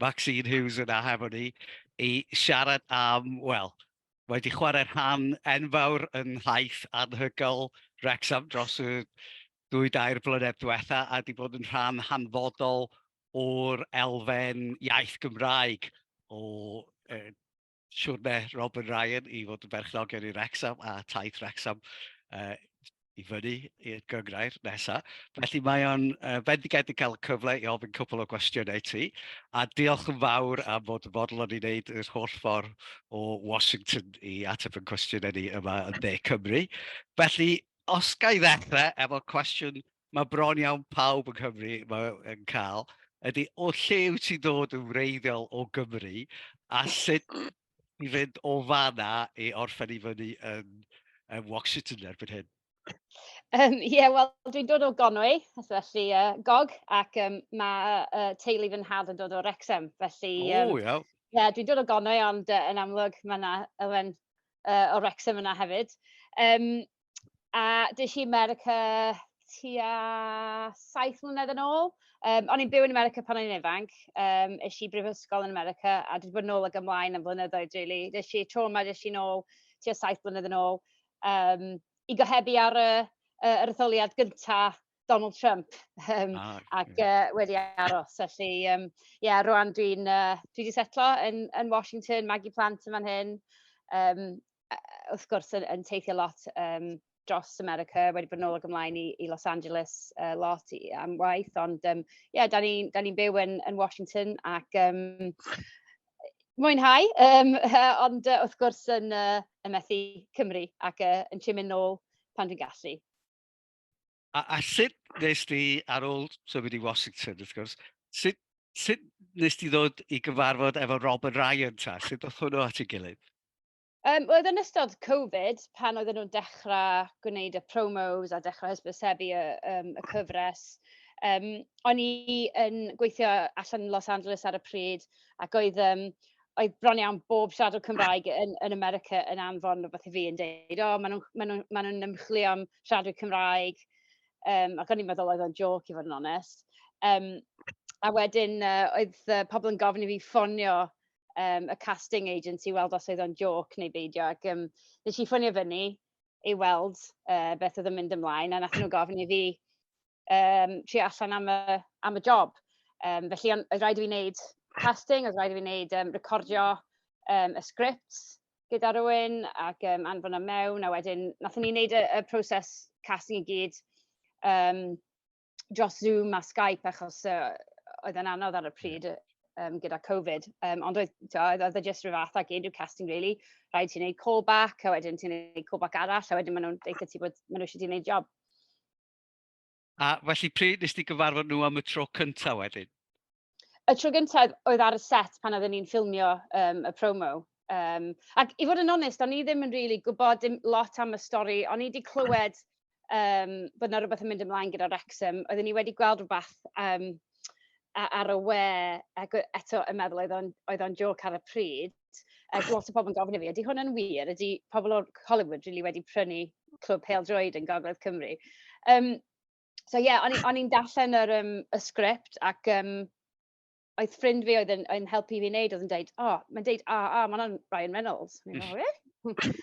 Maxine Hughes yna hefo ni i siarad am, wel, mae wedi chwarae rhan enfawr yn nhaith anhygoel Wrecsam dros y dwy dair blynedd diwetha a wedi bod yn rhan hanfodol o'r elfen iaith Gymraeg o siwrne Robin Ryan i fod yn berchnogion i Rexham a taith Rexham uh, i fyny i'r gyngrair nesaf. Felly mae o'n uh, fendigedig cael y cyfle i ofyn cwpl o gwestiynau ti, a diolch yn fawr am fod yn fodlon i wneud yr holl ffordd o Washington i ateb yn cwestiynau ni yma yn De Cymru. Felly, os ga i ddechrau efo cwestiwn mae bron iawn pawb yng Nghymru yn cael, ydy o lle wyt ti'n dod yn wreiddiol o Gymru a sut i fynd o fanna i orffen i fyny yn, yn Washington erbyn hyn? Um, yeah, wel, dwi'n dod o Gonwy, felly uh, gog, ac um, mae uh, teulu fy nhad yn dod o Rexham, felly... Um, o, iawn. Ie, yeah, dwi'n dod o Gonwy, ond uh, yn amlwg mae yna elfen uh, o Rexham yna hefyd. Um, a des i i 'Merica tua saith mlynedd yn ôl. Yym, o'n i'n byw yn 'Merica pan o'n i'n ifanc, yym, es i i brifysgol yn 'Merica a dwi 'di bod nôl ac ymlaen am flynyddoedd rili. Des i tro 'ma, des i nôl tua saith mlynedd yn ôl, yym, i gohebu ar y y yr etholiad gynta Donald Trump, yym, ac yy wedi aros. Felly, yym, ie, rŵan dwi'n yy, dwi 'di setlo yn yn Washington, magu plant yn fan hyn, yym, wrth gwrs yn yn teithio lot yym dros America, wedi bod yn ôl ac ymlaen i i Los Angeles yy lot i am waith, ond yym ie, 'dan ni'n 'dan ni'n byw yn yn Washington ac yym mwynhau yym ond yy wrth gwrs yn yy yn methu Cymru ac yy yn trio mynd nôl pan dwi'n gallu. A, a sut nes ti, ar ôl symud i Washington, wrth gwrs, sut, sut nes ti ddod i gyfarfod efo Robin Ryan ta? Sut oedd hwnnw at ei gilydd? Um, oedd yn ystod Covid, pan oedden nhw'n dechrau gwneud y promos a dechrau hysbysebu y, um, y cyfres, um, o'n i yn gweithio allan yn Los Angeles ar y pryd, ac oedd um, oedd bron iawn bob siaradwr Cymraeg yn, yn America yn anfon rhywbeth i fi yn dweud, o, maen nhw'n ma nhw, ma nhw ymchwilio am siaradwyr Cymraeg, um, ac o'n i'n meddwl oedd o'n joc i fod yn onest. Um, a wedyn uh, oedd uh, pobl yn gofyn i fi ffonio um, y casting agent i weld os oedd o'n joc neu beidio, ac um, nes i ffonio fyny i weld uh, beth oedd yn mynd ymlaen, a nath nhw gofyn i fi um, trio allan am y, am y job. Um, felly, ond oedd rhaid i fi wneud casting, oedd rhaid i fi wneud um, recordio um, y sgript gyda rhywun ac um, anfon y mewn, a wedyn nath ni wneud y, y proses casting i gyd um, dros Zoom a Skype achos uh, oedd yn anodd ar y pryd um, gyda Covid. Um, ond oedd, oedd, oedd e jyst rhyw fath ag unrhyw casting, really. Rhaid ti'n neud callback, a wedyn ti'n neud callback arall, a wedyn maen nhw'n deitha ti bod maen nhw eisiau ti'n neud job. A felly pryd nes ti gyfarfod nhw am y tro cyntaf wedyn? Y tro gyntaf oedd ar y set pan oedden ni'n ffilmio um, y promo. Um, ac i fod yn onest, o'n i ddim yn really gwybod dim lot am y stori. O'n i wedi clywed um, bod yna rhywbeth yn mynd ymlaen gyda Wrexham. Oedden ni wedi gweld rhywbeth um, ar y we, ac eto yn meddwl oedd o'n joc ar y pryd. Cymreictod. A oedd lot o pobl yn gofyn i fi, ydy hwn yn wir? Ydy pobl o'r Hollywood rili wedi prynu Clwb Pêl Droed yn Gogledd Cymru? Um, so ie, yeah, o'n i'n darllen yr, um, y sgript ac um, oedd ffrind fi oedd yn, yn helpu fi wneud, oedd yn dweud, o, oh, mae'n dweud a, a, mae'n o'n Ryan Reynolds. Mae'n dweud, really?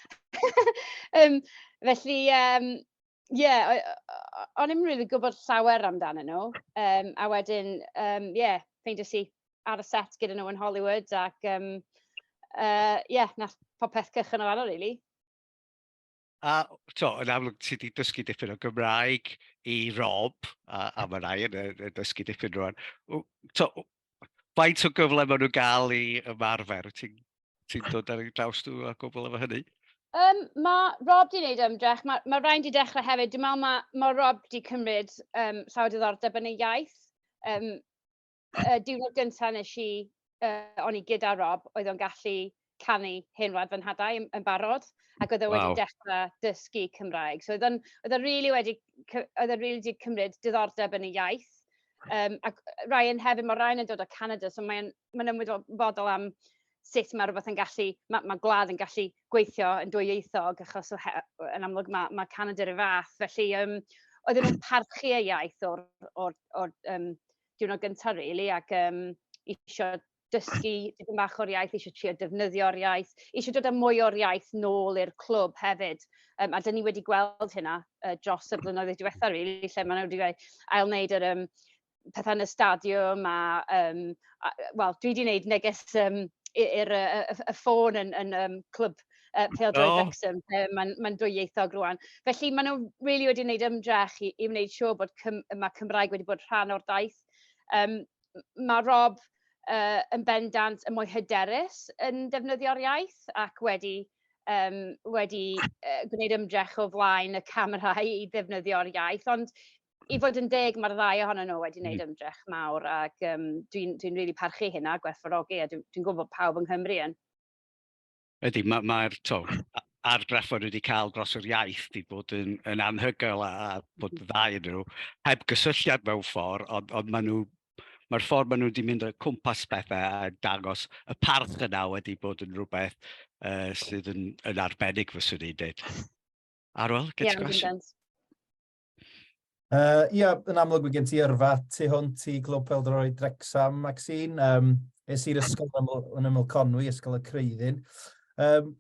um, felly, um, Ie, yeah, o'n i'n rili gwybod llawer amdanyn nhw. Um, a wedyn, um, yeah, ffeindio si ar y set gyda nhw yn Hollywood ac yym yy ie, wnaeth popeth cychwyn o fan'na rili. A tibod, yn amlwg ti 'di dysgu dipyn o Gymraeg i Rob, a a ma' Ryan yn yn dysgu dipyn rŵan. W- Tibod, faint o gyfle maen nhw'n gael i ymarfer? Wyt ti'n ti'n dod ar eu draws nhw a gwbl efo hynny? Um, mae Rob di wneud ymdrech, mae, mae Ryan di dechrau hefyd. Dwi'n meddwl mae, mae Rob di cymryd um, llawer diddordeb yn ei iaith. Um, Y diwrnod gyntaf nes i, yy, o'n i gyda Rob, oedd o'n gallu canu Hen Wlad fy Nhadau yn, yn barod, ac oedd o wedi dechrau dysgu Cymraeg. So oedd o'n oedd o'n rili wedi oedd o'n rili wedi cymryd diddordeb yn y iaith. Um, ac Ryan hefyd, mae Ryan yn dod o Canada, so mae'n mae ymwybodol am sut mae rhywbeth yn gallu, mae, mae gwlad yn gallu gweithio yn dwyieithog, achos o he, yn amlwg mae, mae Canada rhyw fath. Felly, um, oedden nhw'n parchu y iaith o'r, or, or, um, diwrnod gynta' rili ac yym isio dysgu dipyn bach o'r iaith, isio trio defnyddio'r iaith, isio dod â mwy o'r iaith nôl i'r clwb hefyd. Um, a dyn ni wedi gweld hynna uh, dros y blynyddoedd diwetha' rili, really, lle maen nhw wedi gwneud ail wneud yr um, pethau yn y stadiwm a, um, a wel, dwi wedi gwneud neges um, i'r y, y, y ffôn yn, yn um, clwb yy pêl-droed... O! ...Wrecsam lle ma'n ma'n dwyieithog rŵan. Felly ma' nw rili wedi neud ymdrech i i wneud siŵr bod Cym- yy ma' Cymraeg wedi bod rhan o'r daith. Yym m- ma' Rob yy yn bendant yn mwy hyderus yn defnyddio'r iaith ac wedi yym wedi yy gwneud ymdrech o flaen y camera i i ddefnyddio'r iaith ond i fod yn deg ma'r ddau ohonyn nw wedi neud ymdrech mawr ag yym dwi'n dwi'n rili parchu hynna, gwerthfawrogi a dw- dwi'n gwbo bo pawb yng Nghymru yn. Ydy, mae'r ma, ma to, argraff o'n wedi cael dros yr iaith wedi bod yn, yn anhygoel a, a bod mm. dda yn nhw, heb gysylltiad mewn ffordd, ond, ond maen nhw mae'r ffordd maen nhw wedi mynd o cwmpas pethau a dangos y parth yna wedi bod yn rhywbeth uh, sydd yn, yn arbennig fy swn i'n dweud. Arwel, get yeah, Uh, ia, yn amlwg mae gen ti yrfa tu hwnt i Glwb Peldroi Drecsam, Maxine. Um, es i'r ysgol yn yml, yn yml Conwy, ysgol y Creuddyn. Um,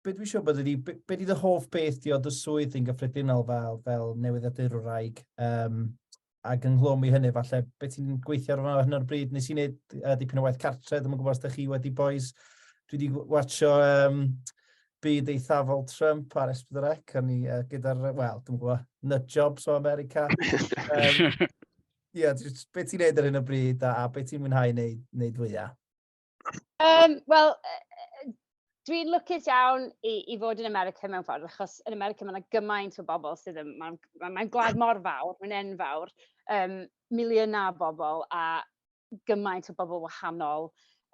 be dwi eisiau bod ydi, be, be di dy hoff beth di o dy swydd yn gyffredinol fel, fel newyddiadurwraig? Um, ac ynghlwm i hynny, falle, beth ti'n gweithio ar hyn o'r bryd? Nes i wneud uh, dipyn o waith cartre, ddim yn gwybod os ydych chi wedi boys. Dwi wedi watcho um, byd eithafol Trump ar Esbydrec, o'n i uh, gyda'r, wel, dwi'n gwybod, nut jobs o America. um, yeah, beth ti'n neud ar hyn o bryd a, a beth ti'n mwynhau wneud, wneud fwyaf? Um, Wel, dwi'n lwcus iawn i, i fod yn America mewn ffordd, achos yn America mae yna gymaint o bobl sydd yn... Mae'n ma, ma gwlad mor fawr, mae'n enfawr, um, miliynau o bobl a gymaint o bobl wahanol,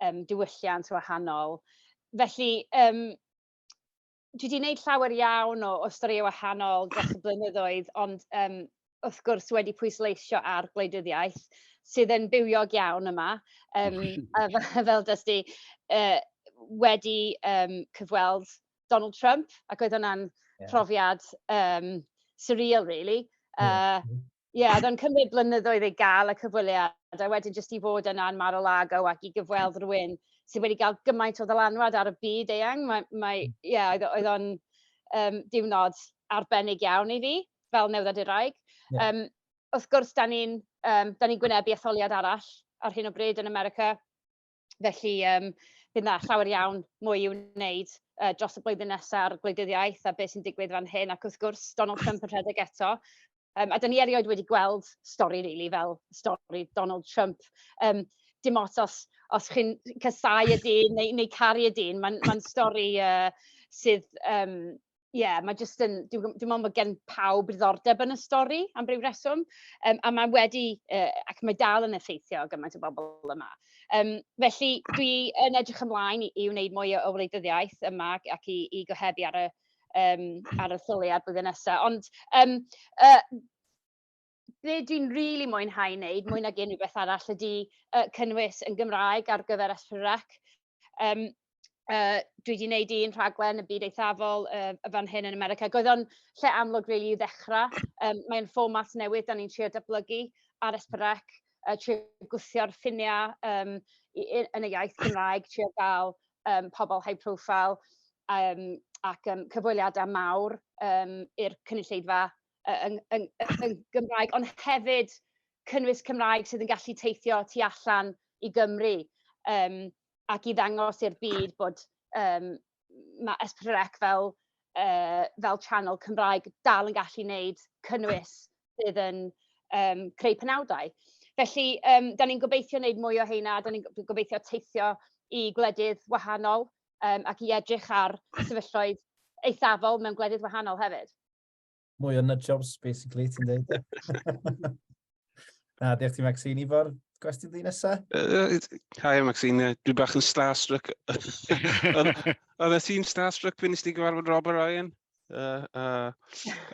um, diwylliant wahanol. Felly, um, dwi 'di wneud llawer iawn o o storïau wahanol dros y blynyddoedd, ond yym wrth gwrs wedi pwysleisio ar gwleidyddiaeth sydd yn bywiog iawn yma. Yym a f- fel dys di yy wedi yym cyfweld Donald Trump ac oedd hwnna'n... Ie. ...profiad yym surreal rili yy... Ie. Ie, oedd o'n cymryd blynyddoedd i gael y cyfweliad, a wedyn jyst i fod yna yn Mar-a-Lago ac i gyfweld rhywun sydd wedi cael gymaint o ddylanwad ar y byd eang. Mae, mae, ie, oedd, oedd o'n um, diwrnod arbennig iawn i fi, fel newddad i'r raig. Yeah. Um, wrth gwrs, da ni'n um, ni gwynebu etholiad arall ar hyn o bryd yn America. Felly yym bydd 'na llawer iawn mwy i'w wneud yy dros y blwyddyn nesa ar gwleidyddiaeth a be' sy'n digwydd fan hyn ac wrth gwrs Donald Trump yn rhedeg eto. Yym a 'dan ni erioed wedi gweld stori rili fel stori Donald Trump yym dim ots os os chi'n casáu y dyn neu neu caru y dyn ma'n ma'n stori yy sydd yym Ie, mae jyst yn... Dwi'n dwi'n meddwl mae gen pawb ddiddordeb yn y stori am ryw reswm, um, a mae wedi, uh, ac mae dal yn effeithio gymaint o bobl yma. Um, felly, dwi yn edrych ymlaen i, i wneud mwy o wleidyddiaeth yma ac i, i gohebu ar y, um, ar y lleoliad blwyddyn nesaf. Ond um, uh, be dwi'n rili mwynhau neud mwy nag unrhyw beth arall ydi yy cynnwys yn Gymraeg ar gyfer S4C. Yym yy dwi 'di neud un rhaglen y Byd Eithafol yy y fan hyn yn America. Ac oedd o'n lle amlwg rili i ddechra. Yym mae'n fformat newydd 'dan ni'n trio datblygu ar S4C a trio gwthio'r ffinia yym i- i- yn y iaith Gymraeg, trio ga'l yym pobol high profile yym ac yym cyfweliada mawr yym i'r cynulleidfa yy yn yn yn Gymraeg, ond hefyd cynnwys Cymraeg sydd yn gallu teithio tu allan i Gymru um, ac i ddangos i'r byd bod um, mae Espryrec fel, uh, fel channel Cymraeg dal yn gallu wneud cynnwys sydd yn um, creu penawdau. Felly, um, da ni'n gobeithio wneud mwy o heina, da ni'n gobeithio teithio i gwledydd wahanol um, ac i edrych ar sefyllfaoedd eithafol mewn gwledydd wahanol hefyd. Mwy o nut jobs, basically, ti'n dweud. Na, diolch ti Maxine. Ifor, gwestiwn di nesa? Uh, hi Maxine, dwi bach yn starstruck. Oedd e ti'n starstruck pan nes ti gyfarfod Rob a Ryan? Uh, uh,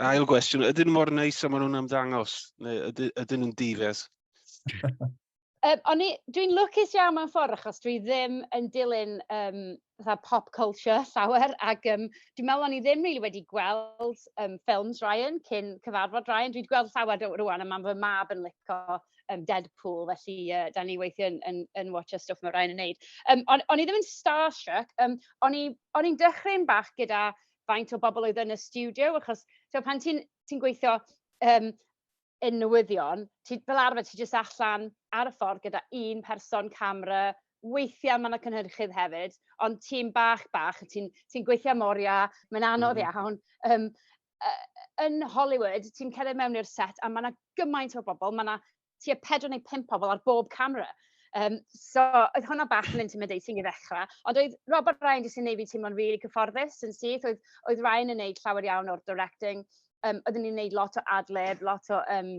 ail gwestiwn, ydyn nhw mor neis am nhw'n ymddangos? Neu ydyn nhw'n difes? Um, o'n i, dwi'n lwcus iawn mewn ffordd achos dwi ddim yn dilyn um, fatha pop culture llawer ac um, dwi'n meddwl o'n i ddim really wedi gweld um, ffilms Ryan cyn cyfarfod Ryan. Dwi'n gweld llawer rwan a mae'n fy mab yn licio um, Deadpool felly uh, da ni weithio yn, yn, yn watch a stwff mae Ryan yn neud. Um, o'n, on i ddim yn starstruck, um, o'n i'n dechrau'n bach gyda faint o bobl oedd yn y studio achos so, pan ti'n ti gweithio um, yn newyddion, ti, fel arfer ti jyst allan ar y ffordd gyda un person, camera, weithiau mae yna cynhyrchydd hefyd, ond tîm bach bach, ti'n ti gweithio am oriau, mae'n anodd mm. iawn. Um, yn Hollywood, ti'n cerdded mewn i'r set a mae yna gymaint o bobl, mae yna tua pedwar neu pump pobl ar bob camera. Um, so, oedd hwnna bach yn intimidating i ddechrau, ond oedd Robert Ryan jyst yn neud fi teimlo'n rili really cyfforddus yn syth, oedd, oedd Ryan yn neud llawer iawn o'r directing, yym oedden ni'n wneud lot o ad-lib, lot o yym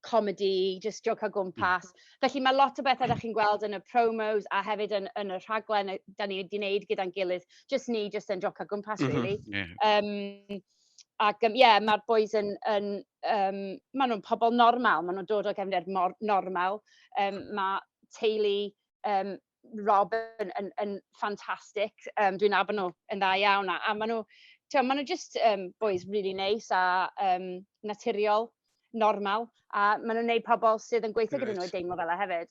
comedi, jyst jocan o gwmpas. Felly mae lot o bethau 'da chi'n gweld yn y promos a hefyd yn yn y rhaglen yy 'dan ni 'di wneud gyda'n gilydd, jyst ni jyst yn jocan o gwmpas rili. Mhm, ie. Yym ac yym ie, mae'r bois yn yn yym maen nhw'n pobl normal, maen nhw'n dod o gefndir mor normal. Yym ma' teulu yym Rob yn yn yn ffantastig. Yym dwi'n nabod nhw yn dda iawn a a ma' nhw t'mo' ma' nhw jyst yym bois rili neis a yym naturiol, normal a ma' nhw'n neud pobol sydd yn gweithio gyda nhw yn deimlo fela hefyd.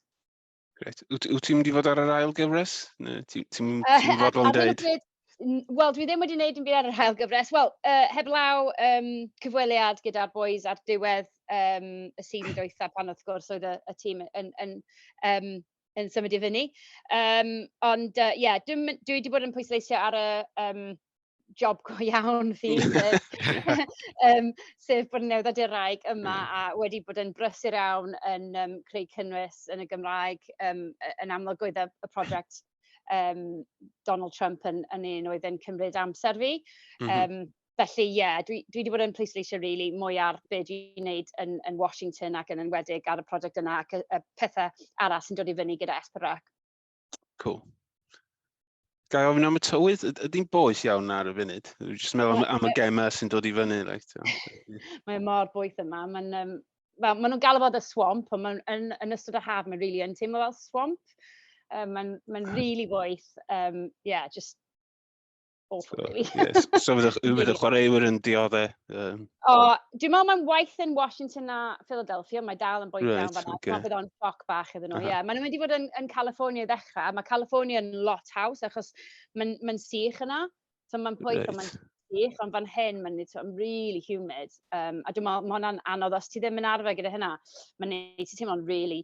Grêt. Wyt wyt ti'n mynd i fod ar yr ail gyfres ne' ti ti'n mynd i fod fel yn deud? Wel dwi ddim wedi neud dim byd ar yr ail gyfres wel yy heblaw yym cyfweliad gyda'r bois ar diwedd yym y season dwytha pan wrth gwrs oedd y y tîm yn yn yym yn symud i fyny. Um, ond uh, yeah, dwi, dwi wedi bod yn pwysleisio ar y um, job go iawn fi, sef, um, sef bod yn newyddiaduraig yma mm. a wedi bod yn brysur iawn yn um, creu cynnwys yn y Gymraeg um, yn amlwg oedd y, y prosiect um, Donald Trump yn, yn un oedd yn cymryd amser fi. Mm -hmm. um, Felly ie, dwi dwi 'di bod yn pwysleisio rili mwy ar be dwi'n wneud yn yn Washington ac yn enwedig ar y prosiect yna ac y y pethe arall sy'n dod i fyny gyda SPRAC. Cool. Ga i ofyn am y tywydd? Ydy'n boeth iawn ar y funud? Dwi'n jyst meddwl am, am y gemau sy'n dod i fyny. Like, Mae mor boeth yma. Mae'n um, fel, maen nhw'n galw fod y swamp, ond maen, yn, yn ystod y haf mae'n really yn teimlo fel swamp. Um, mae'n mae'n really boeth. Um, yeah, just awful, really. yes. So fydd y really chwaraewyr yn diodde? Um... O, dwi'n meddwl mae'n waith yn Washington a Philadelphia, mae dal yn bwynt right, iawn fanna. Okay. Mae bydd o'n sioc bach iddyn nhw, ie. Uh -huh. yeah. Maen nhw'n mynd i fod yn, yn California i ddechrau, mae California yn lot haws achos mae'n ma sych yna. So mae'n pwyth, right. mae'n sych, ond fan hyn mae'n so, really humid. Um, a dwi'n meddwl, mae hwnna'n anodd, os ti ddim yn arfer gyda hynna, mae'n neud ti teimlo'n really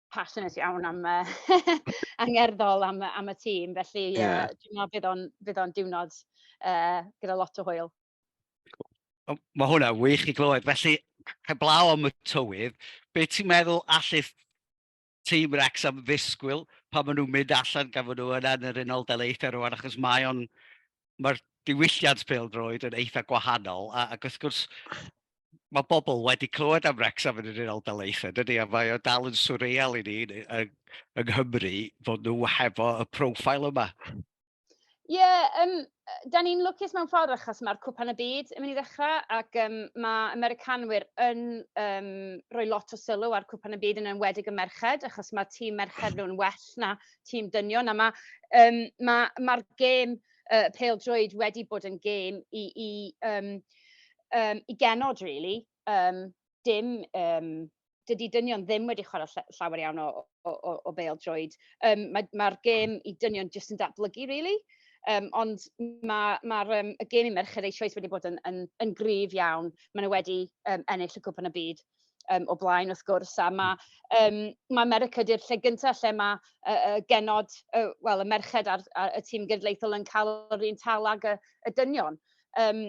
passionate iawn am yy angerddol am am y tîm felly ie yeah. dwi'n meddwl bydd o'n bydd o'n diwrnod uh, gyda lot o hwyl. Mae hwnna wych i glywed. Felly, heblaw am y tywydd, be ti'n meddwl allu tîm Rex am ddisgwyl pan maen nhw'n mynd allan gan fod nhw yna yn yr unol daleithiau rwan, achos mae o'n mae'r diwylliant pêl-droed yn eitha gwahanol, a, ac wrth gwrs, mae bobl wedi clywed am Wrexham yn yr Unol Daleithiau, dydy, a mae o dal yn swreal i ni yng, yng Nghymru fod nhw hefo y profile yma. Ie, yeah, um, da ni'n lwcus mewn ffordd achos mae'r cwpan y byd yn mynd i ddechrau ac um, mae Americanwyr yn um, rhoi lot o sylw ar cwpan y byd yn enwedig y merched achos mae tîm merched nhw'n well na tîm dynion a mae um, ma, ma gêm uh, pêl drwyd wedi bod yn gêm i, i, um, um, i genod, really. Um, dim, um, dydy dynion ddim wedi chwarae llawer iawn o, o, o, o bêl drwyd. Um, Mae'r ma, ma gêm i dynion jyst yn datblygu, really. Um, ond mae'r ma, ma um, y gêm i merched eisoes wedi bod yn, yn, yn gryf iawn. Maen nhw wedi um, ennill y cwpan y byd um, o blaen wrth gwrs, a mae, um, mae America di'r lle gyntaf lle mae uh, uh, genod, uh, wel, y merched a'r, ar y tîm gydleithol yn cael yr un tal ag y, y dynion. Um,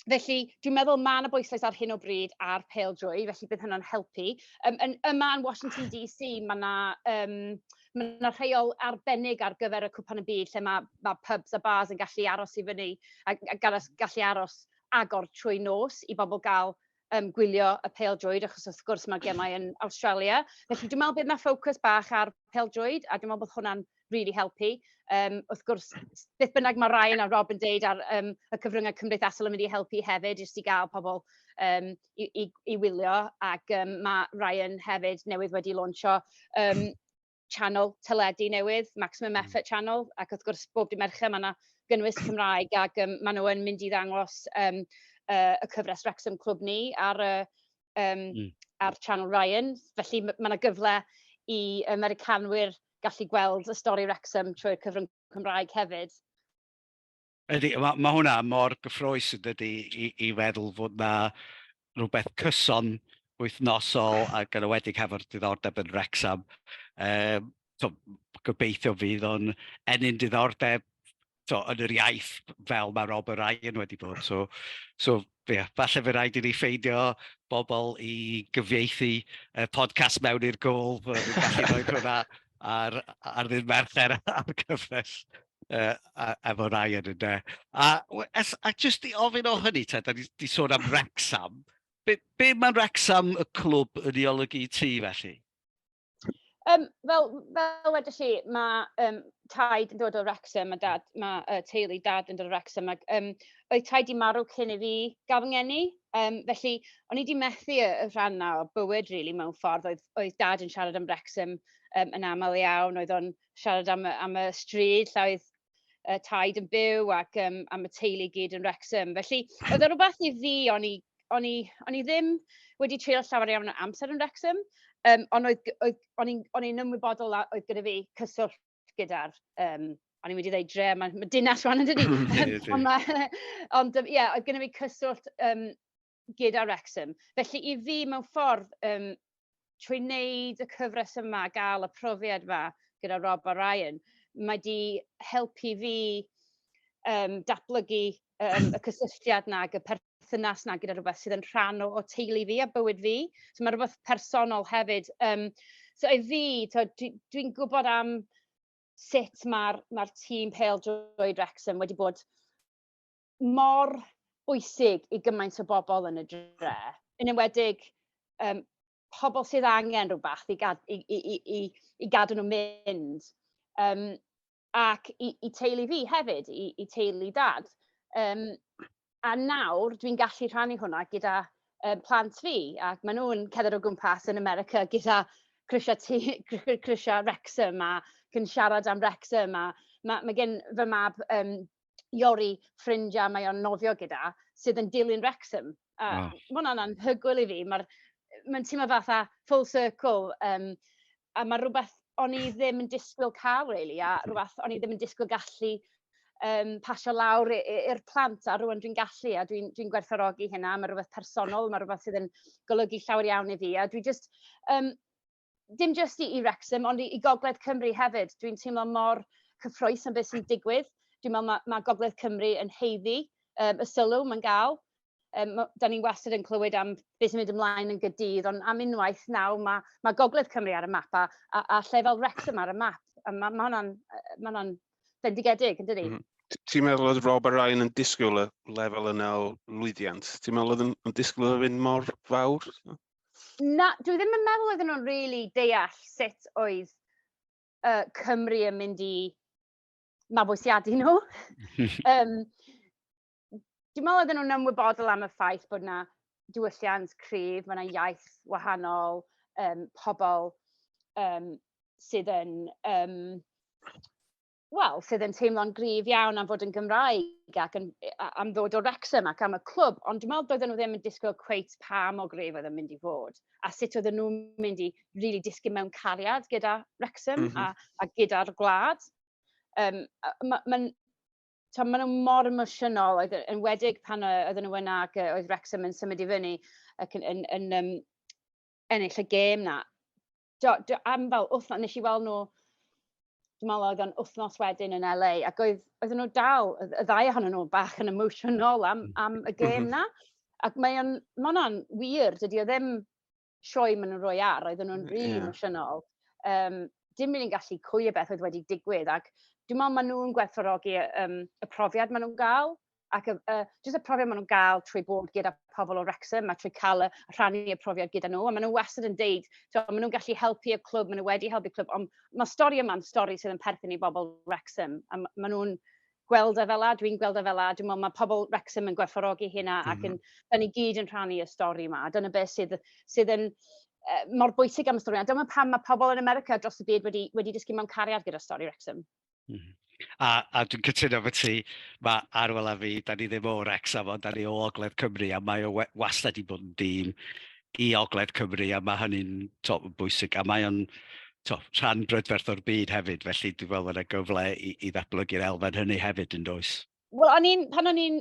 Felly, dwi'n meddwl mae yna bwyslais ar hyn o bryd ar pel drwy, felly bydd hynny'n helpu. Um, yn, yma yn Washington DC, mae yna um, ma na rheol arbennig ar gyfer y cwpan y byd, lle mae, mae pubs a bars yn gallu aros i fyny, a, a gallu aros agor trwy nos i bobl gael yym gwylio y pêl-droed, achos wrth gwrs mae'r gemau yn Awstralia. Felly dwi'n meddwl bydd yna ffocws bach ar pêl-droed, a dwi'n meddwl bod hwnna'n really helpu. Um, wrth gwrs, beth bynnag mae Ryan a Rob yn deud ar um, y cyfryngau cymdeithasol yn mynd i helpu hefyd, jyst i gael pobl um, i, i, i wylio, ac um, mae Ryan hefyd newydd wedi launcho um, channel teledu newydd, Maximum hmm. Effort Channel, ac wrth gwrs bob dim Mercher mae yna gynnwys Cymraeg ac um, maen nhw'n mynd i ddangos um, uh, y cyfres Wrexham Clwb ni ar, uh, um, mm. ar Channel Ryan. Felly mae yna gyfle i Americanwyr gallu gweld y stori Wrexham trwy'r cyfrwng Cymraeg hefyd. Ydy, mae ma' hwnna mor gyffrous yn dydy i i feddwl fod 'na rywbeth cyson wythnosol ac yn enwedig hefo'r diddordeb yn Wrecsam yym tibod gobeithio fydd o'n ennyn diddordeb tibod yn yr iaith fel mae Rob a Ryan wedi bod so so Ie, falle fy rhaid i ni ffeindio bobl i gyfieithu y podcast mewn i'r gôl, bod ni'n gallu rhoi hwnna ar ar ddydd Mercher ar gyfres yy a- efo Ryan ynde. A we- a s- a jyst i ofyn o hynny te, 'dan ni 'di sôn am Wrecsam, be be ma' Wrecsam y clwb yn ei olygu i ti felly? Yym fel fel wedoch chi, ma' yym Taid yn dod o Wrecsam a Dad... ma' yy teulu Dad yn dod o Wrecsam ac yym oedd Taid 'di marw cyn i fi gael fy ngeni. Yym felly o'n i 'di methu y y rhan 'na o bywyd rili mewn ffordd, oedd oedd Dad yn siarad am Wrecsam yym yn aml iawn, oedd o'n siarad am y am y stryd lle oedd y taid yn byw ac um, a mae teulu gyd yn Wrexham. Felly, oedd e rhywbeth i fi, o'n i, o'n i, o'n i ddim wedi treulio llawer iawn o amser yn Wrexham, um, ond oedd, oedd, o'n i'n ymwybodol oedd gyda fi cyswllt gyda'r um, o'n i'n mynd i ddeud dre, mae, mae dinas rhan yn dydi. ond ie, yeah, oedd gen i fi cyswllt um, gyda Wrexham. Felly i fi, mewn ffordd, um, trwy wneud y cyfres yma, gael y profiad yma gyda Rob a Ryan, mae di helpu fi um, datblygu um, y cysylltiad na, y perthynas na gyda rhywbeth sydd yn rhan o, o teulu fi a bywyd fi. So mae rhywbeth personol hefyd. Um, so i fi, dwi'n dwi gwybod am sut mae'r mae tîm Pale Droed Wrexham wedi bod mor bwysig i gymaint o bobl yn y dre, yn enwedig um, pobl sydd angen rhywbeth i, gad, i, i, i, i, i gadw nhw mynd. Um, ac i, i teulu fi hefyd, i, i teulu dad. Um, a nawr dwi'n gallu rhannu hwnna gyda um, plant fi, ac maen nhw'n cedder o gwmpas yn America gyda Crisiau, ti, Crisiau Wrexham a cyn siarad am Wrexham a mae, mae gen fy mab um, Iori, ffrind a mae o'n nofio gyda, sydd yn dilyn Wrexham. A oh. mae hwnna'n anhygoel i fi. Mae'n ma teimlo fatha full circle. Um, a mae rhywbeth o'n i ddim yn disgwyl cael, really, a rhywbeth o'n i ddim yn disgwyl gallu um, pasio lawr i'r plant, a rhywun dwi'n gallu, a dwi'n dwi, gwerthorogi hynna, mae rhywbeth personol, mae rhywbeth sydd yn golygu llawer iawn i fi, a dwi just, um, dim jyst i, i Wrexham, ond i, i Gogledd Cymru hefyd. Dwi'n teimlo mor cyffroes am beth sy'n digwydd. Dwi'n meddwl mae, mae Gogledd Cymru yn heiddi um, y sylw mae'n gael. Um, da ni'n wastad yn clywed am beth sy'n mynd ymlaen yn gydydd, ond am unwaith nawr mae, mae Gogledd Cymru ar y map a, a, a lle fel Wrexham ar y map. A mae, mae hwnna'n ma hwnna bendigedig, yn dydi? Mm -hmm. Ti'n meddwl oedd Rob a Ryan yn disgwyl y lefel yna o lwyddiant? Ti'n meddwl oedd yn, yn disgwyl oedd yn mor fawr? na, dwi ddim yn meddwl oedden nhw'n really deall sut oedd uh, Cymru yn mynd i mabwysiadu nhw. um, dwi'n meddwl oedden nhw'n ymwybodol am y ffaith bod yna diwylliant cryf, mae yna iaith wahanol, um, pobl um, sydd yn um, wel, sydd yn teimlo'n gryf iawn am fod yn Gymraeg ac yn, am ddod o Wrexham ac am y clwb, ond dwi'n meddwl doedden nhw ddim yn disgwyl cweit pa mor gryf oedd yn mynd i fod, a sut oedden nhw'n mynd i really disgyn mewn cariad gyda Wrexham mm -hmm. a, mhm. a gyda'r gwlad. Um, Mae'n ma, ma, ma nhw mor emosiynol, oedd yn wedig pan oedden nhw yna ac oedd Wrexham yn symud i fyny ac yn, yn, yn um, ennill y gêm na. Do, do, am fel wythno-... Wnes i weld nhw, dwi'n meddwl oedd o'n wythnos wedyn yn LA, ac oedd oedden nhw dal, y y ddau ohonyn nhw, bach yn emotional am am y gêm 'na. Ac mae o'n... ma' hwnna'n wir, dydy o ddim sioe maen nhw'n rhoi ar, oedden nhw'n rili Ie. emosiynol. Yym, dim rili'n gallu cwylio beth oedd wedi digwydd, ac dwi'n meddwl maen nhw'n gwerthfawrogi y yym y profiad maen nhw'n gael. Ac y y jyst y profiad maen nhw'n gael trwy bod gyda pobl o Wrecsam a trwy cael y rhannu y profiad gyda nhw. A maen nhw wastad yn deud, tibod, maen nhw'n gallu helpu y clwb, maen nhw wedi helpu clwb, ond mae'r stori yma'n stori sydd yn perthyn i bobl Wrecsam. A m- maen nhw'n gweld e fel la, dwi'n gweld e fel la, dwi'n meddwl mae pobl Wrecsam yn gwerthfawrogi hynna ac yn, mhm. da ni gyd yn rhannu y stori yma. Dyna beth sydd, sydd yn uh, mor bwysig am y stori. A dyma pam mae pobl yn America dros y byd wedi, wedi dysgu mewn cariad gyda stori Wrecsam. Mm. A, a dwi'n cytuno fy ti, mae Arwel a fi, da ni ddim o'r Wrexham, ond da ni o Ogledd Cymru, a mae o wastad i bod yn dîm i Ogledd Cymru, a mae hynny'n bwysig, a mae o'n to, rhan brydferth o'r byd hefyd, felly dwi'n meddwl bod yna gyfle i, i ddatblygu'r elfen hynny hefyd yn does. Wel, o'n i'n, pan o'n i'n,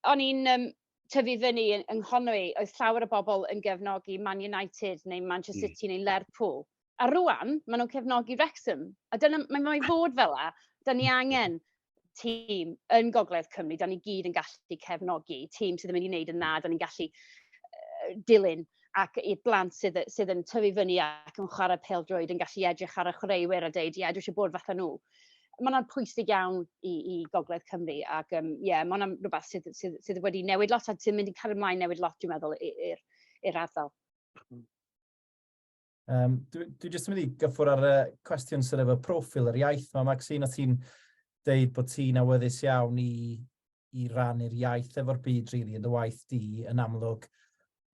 o'n i'n um, tyfu fyny yng Nghonwy, oedd llawer o bobl yn gefnogi Man United neu Manchester hmm. City mm. neu Lerpwl. A rŵan, maen nhw'n cefnogi Wrexham. A dyna, mae mae fod fel la. Da ni angen tîm yn Gogledd Cymru, da ni gyd yn gallu cefnogi tîm sydd yn mynd i wneud yn dda, da ni'n gallu uh, dilyn ac i'r blant sydd, sydd yn tyfu fyny ac yn chwarae pel drwyd yn gallu edrych ar y chwaraewyr a dweud, ie, yeah, dwi eisiau bod fatha nhw. Mae hwnna'n pwysig iawn i, i Gogledd Cymru ac ie, um, yeah, mae hwnna'n rhywbeth sydd, sydd, sydd wedi newid lot a sy'n mynd i cael ymlaen newid lot, dwi'n meddwl, i'r ardal. Um, dwi, dwi jyst yn mynd i gyffwr ar y cwestiwn sydd efo profil yr iaith yma, Maxine, o ti'n deud bod ti'n awyddus iawn i, i rannu'r iaith efo'r byd, rili, really, yn dy waith di, yn amlwg,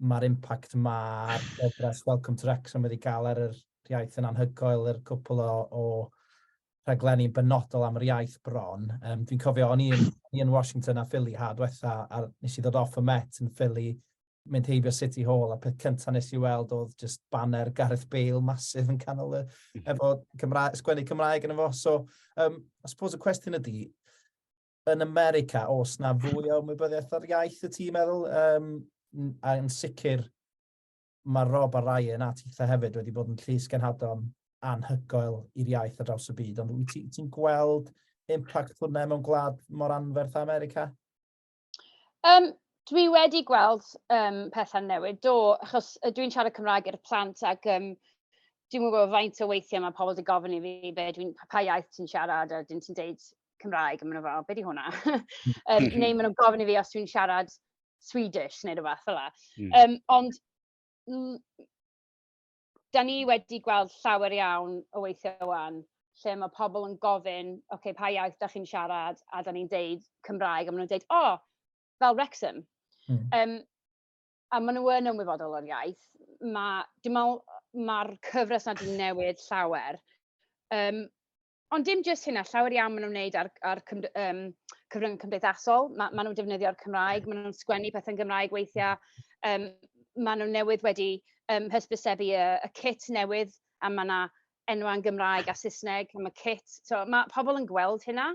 mae'r impact mae'r gyfres Welcome to Wrexham wedi cael ar yr iaith yn anhygoel, yr cwpl o, o rhaglenni benodol am yr iaith bron. Um, Dwi'n cofio, o'n i'n Washington a Philly ha dwetha, a nes i ddod off y Met yn Philly, mynd heibio City Hall, a peth cyntaf nes i weld oedd just banner Gareth Bale masif yn canol y, mhm. efo Cymra sgwennu Cymraeg yn efo. So, um, I suppose y cwestiwn ydy, yn America, os na fwy o ymwybyddiaeth ar iaith y tîm meddwl, um, a yn sicr mae Rob a Ryan a Titha hefyd wedi bod yn llys genhadon anhygoel i'r iaith ar draws y byd, ond wyt ti'n ti gweld impact hwnna mewn gwlad mor anferth America? Um, dwi wedi gweld um, pethau'n newid, do, achos dwi'n siarad Cymraeg i'r plant ac um, dwi'n gwybod faint o weithiau mae pobl wedi gofyn i fi be dwi'n, pa iaith ti'n siarad a dyn ti'n deud Cymraeg, a maen nhw fel, be di hwnna? um, neu maen nhw'n gofyn i fi os dwi'n siarad Swedish neu rhywbeth fel la. Mm. Um, ond dan ni wedi gweld llawer iawn o weithiau wan, lle mae pobl yn gofyn, ok, pa iaith da chi'n siarad, a dan ni'n deud Cymraeg, a maen nhw'n deud, o, oh, fel Wrexham. Mm. Um, a maen nhw yn ymwybodol o'r iaith. Mae, dim ond, mae'r cyfres na di newid llawer. Um, Ond dim jyst hynna, llawer iawn maen nhw'n wneud ar ar cymd- yym cyfryngau cymdeithasol, ma' maen nhw'n defnyddio'r Cymraeg, maen nhw'n sgwennu pethau'n Gymraeg weithiau, yym maen nhw newydd wedi yym hysbysebu y y cit newydd a ma' 'na enwau'n Gymraeg a Saesneg am y cit, so ma' pobl yn gweld hynna,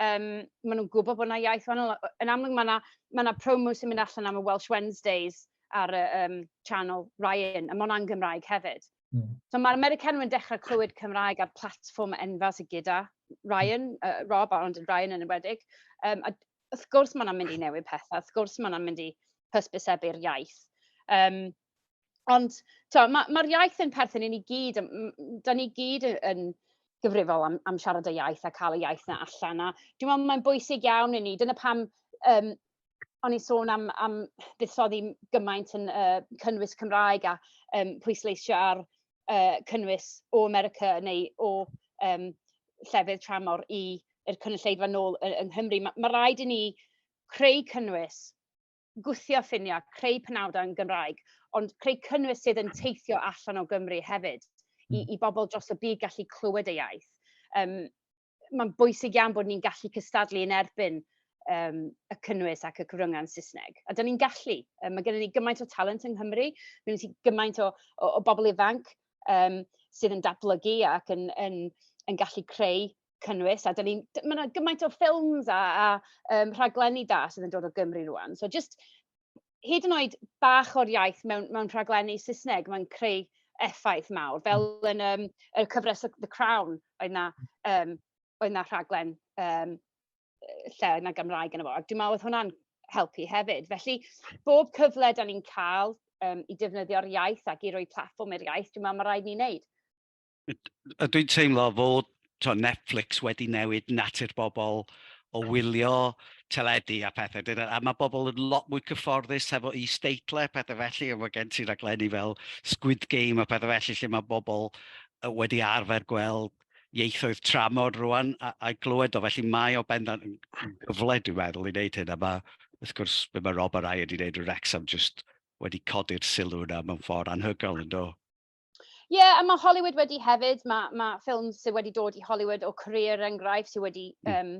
yym maen nhw'n gwybod bod 'na iaith wahanol, yn amlwg ma' 'na ma' 'na promo sy'n mynd allan am y Welsh Wednesdays ar y yym channel Ryan a ma' hwnna'n Gymraeg hefyd. Mm. So mae'r Americanwyr yn dechrau clywed Cymraeg ar platfform enfawr sydd gyda Ryan, uh, Rob, ond yn Ryan yn ymwedig. Um, a wrth gwrs mae'n mynd i newid pethau, wrth gwrs mae'n mynd i hysbysebu'r iaith. Um, ond mae'r ma, iaith yn perthyn i ni gyd, da ni gyd yn, yn gyfrifol am, am siarad y iaith a cael y iaith na allan. A dwi'n meddwl mae'n bwysig iawn i ni, dyna pam um, o'n i'n sôn am am fuddsoddi gymaint yn yy cynnwys Cymraeg a yym pwysleisio ar yy cynnwys o America neu o yym llefydd tramor i i'r cynulleidfa nôl yy yng Nghymru. Ma' ma' raid i ni creu cynnwys, gwthio ffiniau, creu penawdau yn Gymraeg, ond creu cynnwys sydd yn teithio allan o Gymru hefyd i i bobl dros y byd gallu clywed y iaith. Yym mae'n bwysig iawn bod ni'n gallu cystadlu yn erbyn um, y cynnwys ac y cyfryngau yn Saesneg. A dyn ni'n gallu. Um, mae gennym ni gymaint o talent yng Nghymru, mae gennym ni gymaint o, o, o bobl ifanc um, sydd yn datblygu ac yn, yn, yn gallu creu cynnwys a ni, mae yna gymaint o ffilms a, a um, rhaglenni da sydd yn dod o Gymru rwan. So just hyd yn oed bach o'r iaith mewn mewn rhaglenni Saesneg, mae'n creu effaith mawr, fel hmm. yn um, y cyfres The Crown, oedd na, um, oedd na rhaglen um, lle oedd na Gymraeg yn y fo. Dwi'n meddwl oedd hwnna'n helpu hefyd. Felly, bob cyfle da ni'n cael um, i defnyddio'r iaith ac i roi platform i'r iaith, dwi'n meddwl mae rhaid ni'n neud. A dwi'n teimlo fod tibod Netflix wedi newid natur bobl o wylio teledu a phethe. Ded- A ma' bobl yn lot mwy cyfforddus hefo is-deitlau a pethe felly, a ma' gen ti raglenni fel Squid Game a pethe felly lle ma' bobl yy wedi arfer gweld ieithoedd tramor rŵan a a glywed o, felly mae o bendant yn yn gyfle dwi'n meddwl i wneud hyn, a ma' wrth gwrs be ma' Rob a Ryan 'di wneud yn Wrecsam jyst wedi codi'r sylw yna mewn ffordd anhygoel yn do? Ie, yeah, a mae Hollywood wedi hefyd, mae, mae ffilm sydd wedi dod i Hollywood o Korea er enghraifft sydd wedi, um,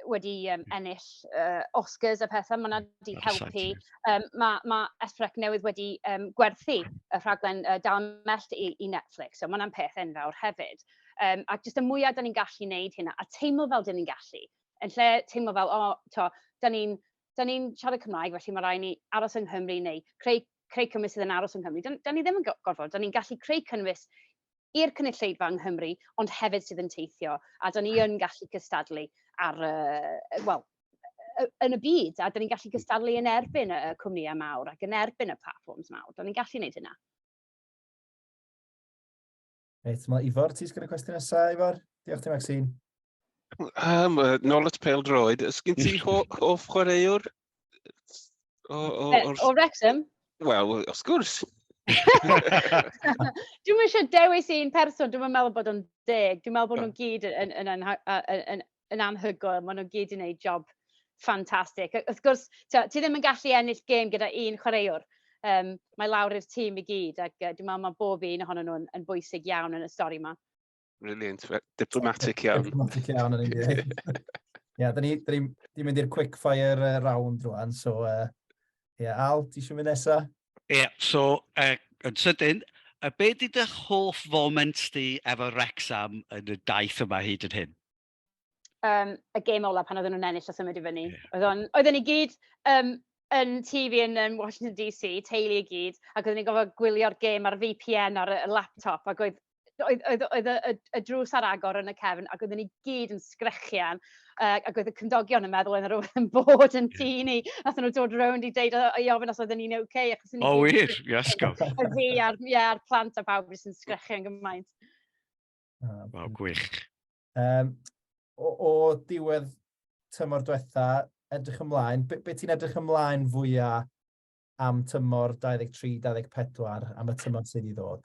wedi um, ennill uh, Oscars a pethau, mae yna wedi helpu. Um, mae, mae Esprec newydd wedi um, gwerthu y rhaglen uh, Dal Mellt i, i Netflix, so mae yna'n peth enfawr hefyd. Um, ac jyst y mwyaf da ni'n gallu wneud hynna, a teimlo fel da ni'n gallu, yn lle teimlo fel, o, oh, to, da ni'n da ni'n siarad Cymraeg, felly mae rhaid ni aros yng Nghymru neu creu creu cynnwys sydd yn aros yng Nghymru. Da ni ddim yn gorfod, da ni'n gallu creu cynnwys i'r cynulleidfa yng Nghymru, ond hefyd sydd yn teithio, a da ni yn gallu cystadlu ar, uh, wel, yn y byd, a da ni'n gallu cystadlu yn erbyn y cwmnïau mawr ac yn erbyn y platforms mawr. Da ni'n gallu gwneud hynna. Reit, mae Ifor, ti'n sgyn y cwestiwn nesaf, Ifor? Diolch ti, Maxine. Um, nôl at pel droed, ys gen ti hoff chwaraewr? O, o, o, o Wrexham? Wel, wrth gwrs. Dwi'n eisiau dewis un person, dwi'n meddwl bod o'n deg. Dwi'n meddwl bod nhw'n gyd yn, yn, yn, yn, yn yn anhygoel, ma' nw gyd 'di neud job ffantastig. A wrth gwrs t'o' ti ddim yn gallu ennill gêm gyda un chwaraewr. Yym mae lawr i'r tîm i gyd ac yy dwi me'wl ma' bob un ohonyn nhw'n yn bwysig iawn yn y stori 'ma. Brilliant, fe- diplomatic iawn. Diplomatic iawn yn union. Ie, da ni da ni di mynd i'r quick fire uh, round rwan, so uh, ie, Al, ti eisiau mynd nesa? Ie, so yy yn sydyn, yy be 'di dy hoff foment di efo Wrecsam yn y daith yma hyd yn hyn? Um, y gêm ola pan oedden nhw'n ennill a symud i fyny. Yeah. Oedden, oedden ni gyd um, yn TV yn um, Washington DC, teulu i gyd, ac oedden ni'n gofod gwylio'r gêm ar VPN ar y laptop, ac oedd oedd oedd oedd y y y drws ar agor yn y cefn ac oedden ni gyd yn sgrechian yy ac oedd y cymdogion yn meddwl oedden rywbeth yn bod yn tŷ ni. Nathon nhw dod rownd i deud o- i ofyn os oedden ni'n ok achos o'n ni... O wir? Iasgob. Y fi a'r ie a'r plant a pawb jyst yn sgrechian gymaint. Ah, Waw, gwych. Um, o, o diwedd tymor diwetha, edrych ymlaen, be, be ti'n edrych ymlaen fwyaf am tymor 23-24, am y tymor sydd i ddod?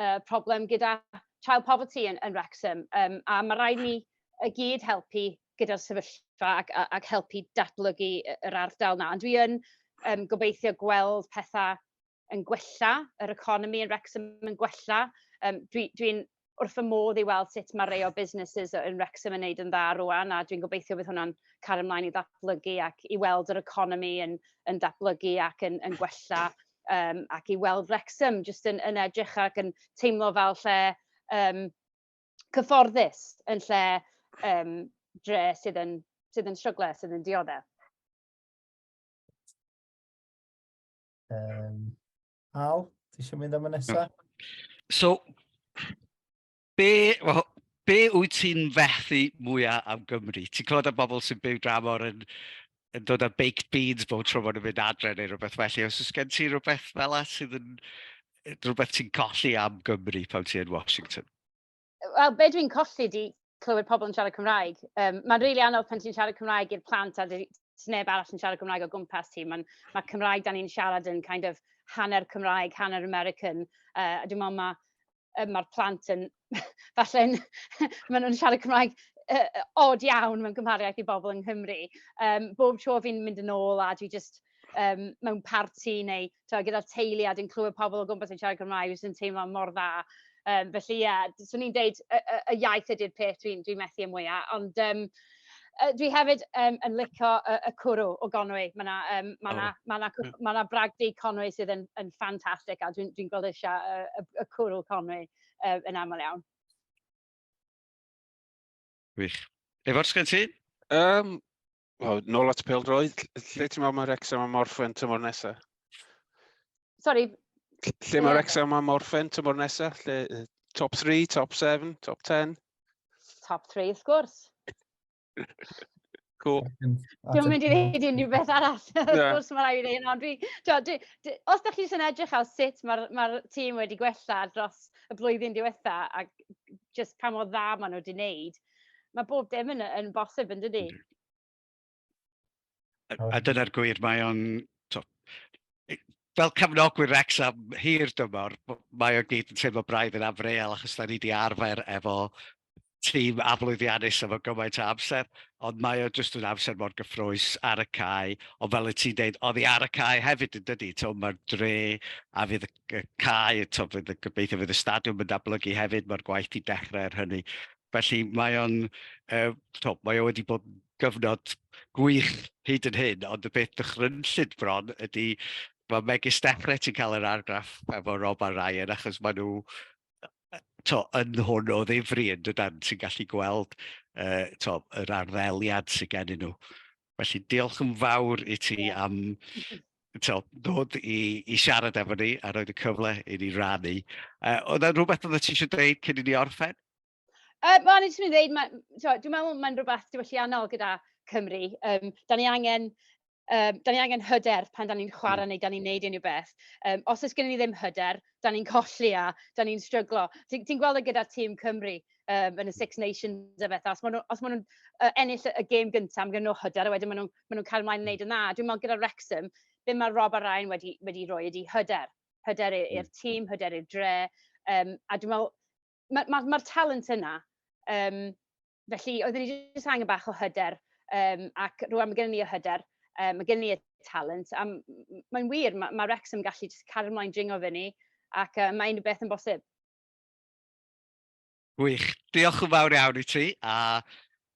yy problem gyda child poverty yn yn Wrecsam yym a ma' raid ni i gyd helpu gyda'r sefyllfa ac a- ac helpu datblygu y- yr ardal 'na. Ond dwi yn yym gobeithio gweld petha yn gwella, yr economi yn Wrecsam yn gwella. Yym dwi dwi'n wrth fy modd i weld sut ma' rei o businesses yy yn Wrecsam yn neud yn dda rŵan a dwi'n gobeithio bydd hwnna'n cario mlaen i ddatblygu ac i weld yr economi yn yn datblygu ac yn yn gwella. um, ac i weld Wrexham jyst yn, yn edrych ac yn teimlo fel lle um, cyfforddus yn lle um, dre sydd yn, sydd yn stryglau, sydd yn dioddau. Um, Al, ti eisiau mynd am y nesaf? So, Be, well, be wyt ti'n fethu mwyaf am Gymru? Ti'n clywed am bobl sy'n byw dramor yn, yn dod â baked beans bob tro maen nhw'n mynd adre neu rhywbeth felly. Os oes gen ti rhywbeth fel la sydd yn rhywbeth ti'n colli am Gymru pan ti'n Washington? Wel, be dwi'n colli di clywed pobl yn siarad Cymraeg. Um, mae'n rili really anodd pan ti'n siarad Cymraeg i'r plant a ti'n neb arall yn siarad Cymraeg o gwmpas ti. Mae ma Cymraeg da ni'n siarad yn kind of hanner Cymraeg, hanner American. Uh, dwi'n meddwl mae yy ma'r plant yn falle'n ma' nw'n siarad Cymraeg yy yy od iawn mewn cymhariaeth i bobol yng Nghymru. Yym bob tro fi'n mynd yn ôl a dwi jyst yym mewn parti neu t'wod gyda'r teulu a dwi'n clywed pobol o gwmpas yn siarad Cymraeg jyst yn teimlo mor dda. Yym felly ie, d- swn i'n deud y y y iaith ydi'r peth dwi'n dwi'n methu â mwya ond yym Yy dwi hefyd yym yn lico y y cwrw o Gonwy. Ma' 'na yym ma' 'na ma' 'na cw- ma' 'na bragdy Conwy sydd yn yn ffantastig a dwi'n dwi'n gweld y sia- yy y y cwrw Conwy yy yn amal iawn. Gwych. Ifor, sgen ti? Yym, wel, nôl at pêl-droed, ll- lle ti'n meddwl mae Wrecsam a Morfa yn tymor nesa? Sorry. Lle mae Wrexham am orffen tymor nesaf? Lle, top 3, top 7, top 10? Top 3, wrth gwrs. Cool. Dwi'n mynd i ddeud unrhyw beth arall. Wrth gwrs mae rhaid i hyn, ond dwi... Os da chi eisiau edrych ar sut mae'r ma tîm wedi gwella dros y blwyddyn diwetha a just pa mor dda maen nhw wedi wneud, mae bob dim yn, yn bosib yn dydy. A, a dyna'r gwir, mae o'n... Fel cefnogwyr Wrecsam hir dymor, mae o gyd yn teimlo braidd yn afreal achos da ni wedi arfer efo tîm aflwyddiannus efo gymaint o amser, ond mae o jyst yn amser mor gyffrous ar y cae, ond fel y ti'n dweud, oedd hi ar y cae hefyd yn dydi, to mae'r dre a fydd y cae, to fydd y gobeithio fydd y stadiwm yn dablygu hefyd, mae'r gwaith i dechrau ar hynny. Felly mae o'n, uh, to, mae o wedi bod yn gyfnod gwych hyd yn hyn, ond y peth dychrynllyd bron ydy mae megis Steffret sy'n cael yr argraff efo Rob a Ryan achos maen nhw to, yn hwn o ddifri yn dydan sy'n gallu gweld uh, to, yr arddeliad sy'n gennym nhw. Felly diolch yn fawr i ti am to, dod i, i siarad efo ni a roed y cyfle i ni rannu. Uh, oedd yna rhywbeth oedd ti eisiau dweud cyn i ni orffen? Uh, Wel, ni jyst mynd i ddweud, ma, so, dwi'n meddwl mae'n rhywbeth diwylliannol gyda Cymru. Um, da ni angen Um, da ni angen hyder pan da ni'n chwarae hmm. neu da ni'n neud unrhyw beth. Um, os oes gen i ddim hyder, da ni'n colli a da ni'n stryglo. Ti'n ti gweld y e gyda tîm Cymru um, yn y Six Nations a beth. Os maen nhw'n ma nhw, uh, ennill y gêm gyntaf, mae gen nhw hyder a wedyn maen nhw'n ma nhw cael ymlaen yn neud yn dda. Dwi'n meddwl gyda Wrexham, be mae Rob a Ryan wedi, wedi rhoi ydi hyder. Hyder hmm. i'r tîm, hyder i'r dre. Um, a dwi'n meddwl, mae'r ma, ma, ma talent yna. Um, felly, oedden ni jyst angen bach o hyder, um, ac rwan mae gen ni o hyder, um, mae gen ni y talent, a mae'n wir, mae, ma Rex yn gallu jyst cario ymlaen dringo fe ni, ac um, mae unrhyw beth yn bosib. Gwych. Diolch yn fawr iawn i ti, a